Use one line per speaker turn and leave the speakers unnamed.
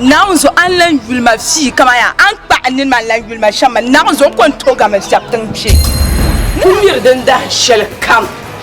Naawuni zo a ni lan
yuli ma fii kaman yaa a ni kpa a nini maa ni lan yuli ma shɛm maa. Naawuni zo n-kɔŋ n-tooi gari ma shɛb tiŋ kpe. Ku miri
din dahin shɛlikam.